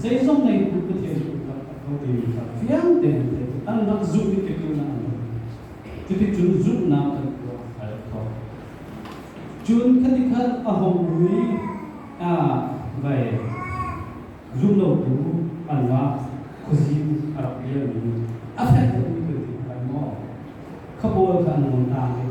Zeizong lei cu Pathian lungtak a kho timi kha fiang tein theih cu anmah zumhmi tlukin in a um. Cuticun zumhnak kan tuah a herh ko. Cun khatikhat a hong um i, aa vai, zumlotu anmah khuazing a rak pialmi a fek lomi thil cu a rai maw? Khabawi kha an nawn taak i,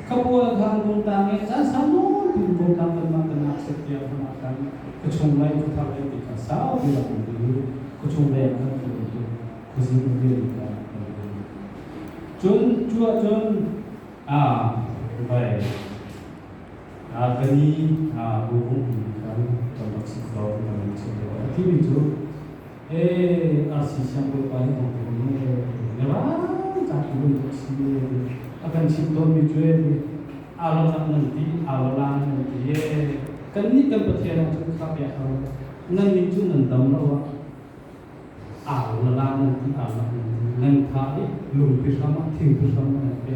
ka pawl kha Bungtang i a caan sau nawn piin Bungtang vanmang kan ah set piak hram ah khan khuachung lei khuthar lei mi kha saupi lam an kal i khuachung lei ah khan kal i khuazing rian kha an kal i cun cu ah cun ah vai ah ka ni ah bu bung khan kan rak si ko kan rak si ko a ti mi cu Hee, arsi siang Bawipa nih an tuan le ngai tak in tuk si a kan chimh tawnmi cu alolang nan ti alolang nan ti kan nih kan Pathian ah cun khak ya hau nan nih cu nan dam lo ah alolang nan ti alolang nan tha i lungpi hram ah thing pi hram nan pe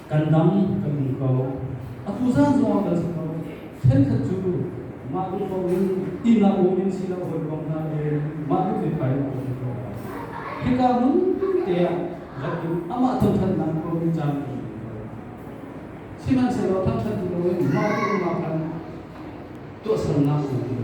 kan dam kan um ko. Atu zaan zongah kan um ko i ṭhenkhat cu mah duh ko in ihnak um in si lo hawi kong hna i mah duh te kai um ko. Hika nun te ah lakin amah thangṭhatnak ko in caan um ko. Sihmanhsehlaw thangṭhat lo in mah duh kong ah khan tuahsernak um ko.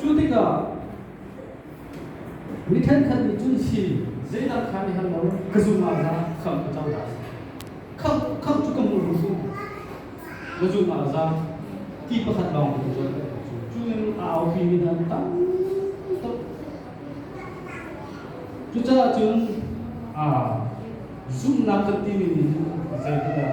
Cu tikah mi thenkhat nih cun hi zeidah kha nih han lo ka zum ah za kham ka cang dah kham kham cu ka hmu rum rum ka zum ah za ti pakhat lawng ka zuan ka cu cu in aupi mi hna tam tuk cucaah cun aa zumhnak kan timi nih zeitindah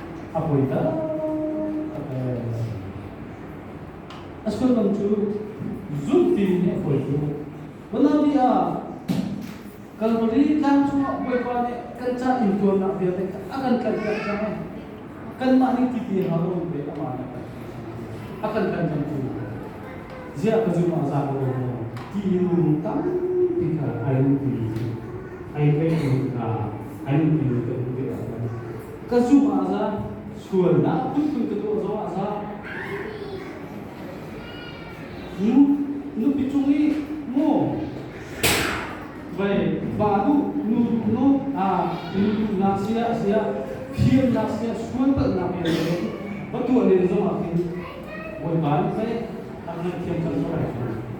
a poi taktak lai a si. A sullam cu zulh tiin a poi cu. Manabi ah Kalvari tlang chungah Bawipa nih kan ca intuarnak vialte a kan tlanhpiak caah kanmah nih ti a hau lomi pei amah nih a kan a kan kan kamtu ziah ka zung ah zaa lo maw tiin minung tampi kha an pi an kai ning hna an pi kan hmuh ve ahcun Ka zumh ah za, sualnak phunphun ka tuah zong ah za. Hmm? Nupi cung i maw vai ba nu nu duh no a nu duhnak sia sia thiamnak sia sual palhnak sia in va tuah len zong ah khin bawipa nih pei an ngaithiam kan zong ai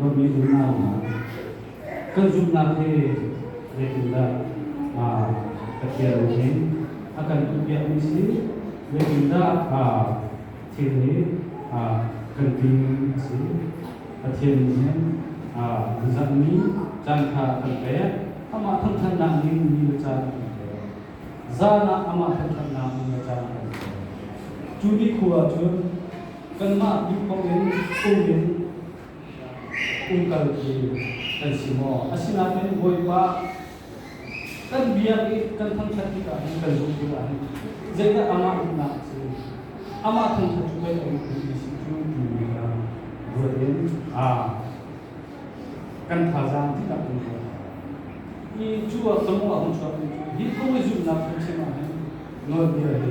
Babi unaunak kan zumhnak hi zeitindah Pathian nih a kan tuahpiakmi si zeitindah thil hi kan tling a si Pathian nih nizakni caan kha kan pek amah thangthatnak ning ni le caan a kan pek zan ah amah thangthatnak ning le caan a kan pek cu ni khua cun kanmah bik bang in phung in umkalmi kan si maw? Asinain Bawipa, kan biak i kan thangṭhat tikah hin kan zumh tikah hin zeidah amah umnak cu amah thangṭhat cu pei a um ti si cu timi kha ruat in a kan thazaang tikah kan ruat. I cu ah ka mawh a hung chuak mi hi phung i zumhnak phungchim ah hin nawlbia hi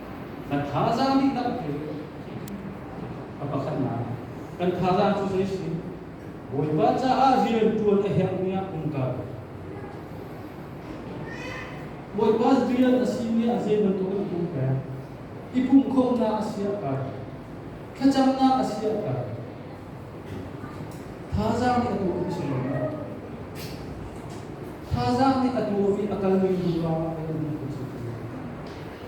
Kan thazaang dihlak cu a pakhatnak kan thazaang cu zei si? Bawipa caah rianṭuan a herhmi ah um kal. Bawipa rian a simi ah zei bantuk in um peng? I pumhkhawmhnak a si ah kal. Thlacamnak a si ah kal. Thazaang nih a tuahmi si lo maw? Thazaang nih a tuahmi a kalmi hnu lawngah a kalmi cu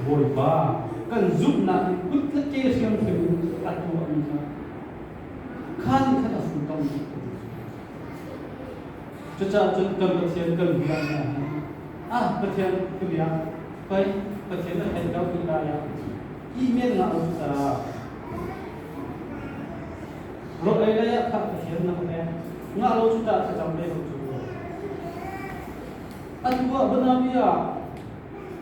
Bawipa, kan zumhnak i kut le ke hriamthem in a tuahmi kha kha ni khan a futon ti ka Cucaah cun kan Pathian kan bia hna hi ah Pathian ka bia pei Pathian a hlen ko ni lai ah imen nga u sa ro ei lei ah kha Pathian na pek nga lo cu ta ka cham ve ko cu an tua banami ah